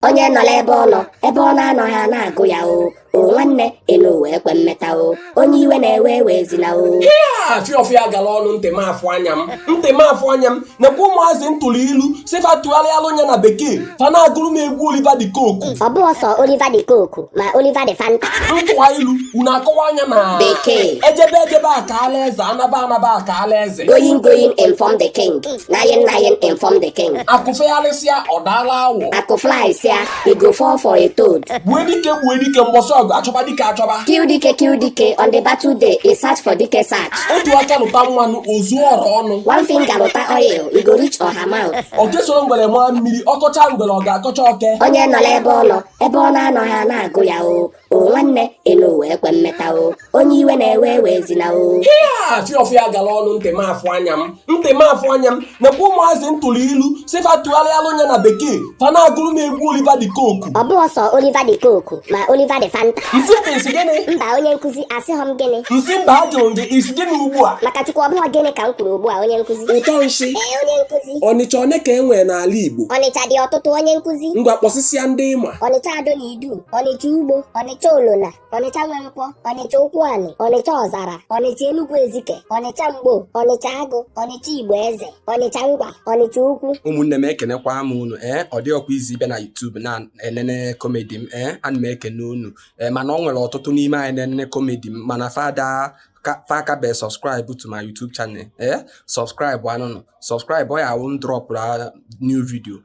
onye nọla ebe ọ nọ ebe ọ na-anọghị a na-agụ ya o o nwanne enu ụwa ekwe mmeta o onye iwe na-ewe ewezina o afịa ọfịa gara ọnụ ntị m afụ anya m ntị m afụ anya m nekwa ụmụazị m tụrụ ilu sị fa tụgharịalụ nya na bekee fa na-agụrụ m egwu Oliver de Coque ọ bụrọ sọ Oliver de Coque ma Oliver de Fanta m tụwa ilu unu akọwaa nya na Bekee. ejebe ejebe a kaala eze anaba anaba a kaala eze going going inform the king Naing naing inform the king. Akụ fegharịsịa ọ daala awọ. Akụ flyịsịa e go fall for a toad. Gbue dike gbue dike mbọsị ọgụ achọba dike achọba. Kill dike kill dike on the battle day e search for dike search. Otu aka lụta mmanụ o zuo ọra ọnụ. One finger lụta oil e go reach ọha mouth. Oke soro ngwere maa mmiri ọ kọchaa ngwere ọ ga-akọcha oke. Onye nọla ebe ọ nọ ebe ọ na-anọghị a na-agụ ya o. o nwanne elu ụwa ekwe mmeta o onye iwe na-ewe ewezina o afịa ọfịa gara ọnụ ntị m afụ anya m ntị m afụ anya m nekwa ụmụazị m tụrụ ilu sị fa tụgharịalụ nya na bekee fa na-agụrụ m egwu Oliver de Coque ọ bụghị sọ Oliver de Coque ma Oliver de Fanta nsị bụ ị sị gịnị mba onye nkụzi asịghọ m gịnị m sị mba ajụrụ gị ị sị gịnị ugbu a maka chukwu ọ bụghị gịnị ka m kwuru ugbu a onye nkụzi ụtọ nsị ee onye nkụzi ọnịcha one ka e nwere n'ala Igbo ọnịcha dị ọtụtụ onye nkụzi ngwa kpọsịsịa ndị ị ma ọnịcha Ado na Idu, Ọnịcha Ugbo, Ọnịcha Olona, Ọnịcha Nwenkwọ, Ọnịcha Ụkwụanị, Ọnịcha Ọzara, Ọnịcha Enugwu Ezike, Ọnịcha Mgbo, Ọnịcha Agụ, Ọnịcha Igboeze, Ọnịcha Ngwa, Ọnịcha Ukwu. ụmụnne m ekenekwa m unu ee ọ dịrọkwa easy ịbịa na YouTube na-enene komedi m ee ana m ekene unu ee mana ọ nwere ọtụtụ n'ime anyị na-enene komedi m mana fa akabe subscribe to my YouTube channel ee subscribe anụnụ subscribe ọ ya-awụ m drọpụa new video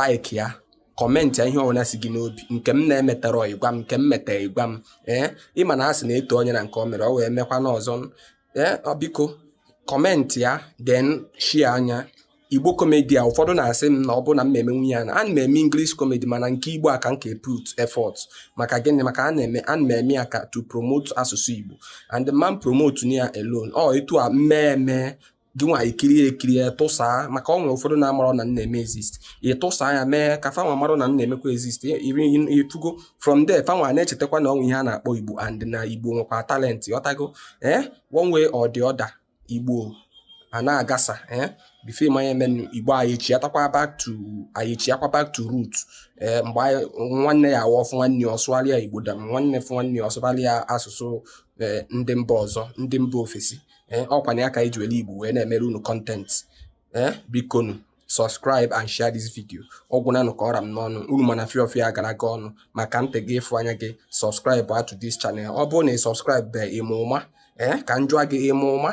like ya kọmentị ya ihe ọbụla si gị n'obi nke m na-emetarọ ị gwa m nke m meta ị gwa m ee ị ma na a sị na e too onye na nke o mere ọ wee mekwa n'ọzọ ee biko kọmentị ya then share nya igbo komedi a ụfọdụ na-asị m na ọ bụrụ na m na-emenwu nya na ana m eme English komedi mana nke igbo a ka m ka put effort maka gịnị maka ana m eme ya ka to promote asụsụ igbo and m man promote ya alone ọ etu a m mee eme gịnwa i kiri ekiri ya tụsaa maka ọ nwere ụfọdụ na-amarọ na m na-eme exist ị tụsaa ya mee ka fanwa marụ na m na-emekwa exist ị fụgo from there fanwa na-echetakwa na o nwe ihe a na-akpọ igbo and na igbo nwekwa talenti ị ghọtago ee eh, one way or the other igbo a na-agasa ee eh, before ị ma ihe na-emenụ igbo anyị chighatakwa back to anyị chighakwa back to root ee eh, mgbe nwanne ya-awụ ọ fụ nwanne ya ọ sụwara ya igbo than nwanne fụ nwanne ya ọ sụwara ya asụsụ ndị mba ọzọ ndị mba ofesi ee ọ kwa nya ka e ji were igbo wee na-emere unu content ee bikonu subscribe and share this video ọ gwụnanụ ka ọ ra m n'ọnụ unu mana fịa ọfịa gara gị ọnụ maka ntị gị afụ anya gị subscribe to this channel ọ bụrụ na ị subscribe be ị ma ụma ee ka m jụọ gị ị ma ụma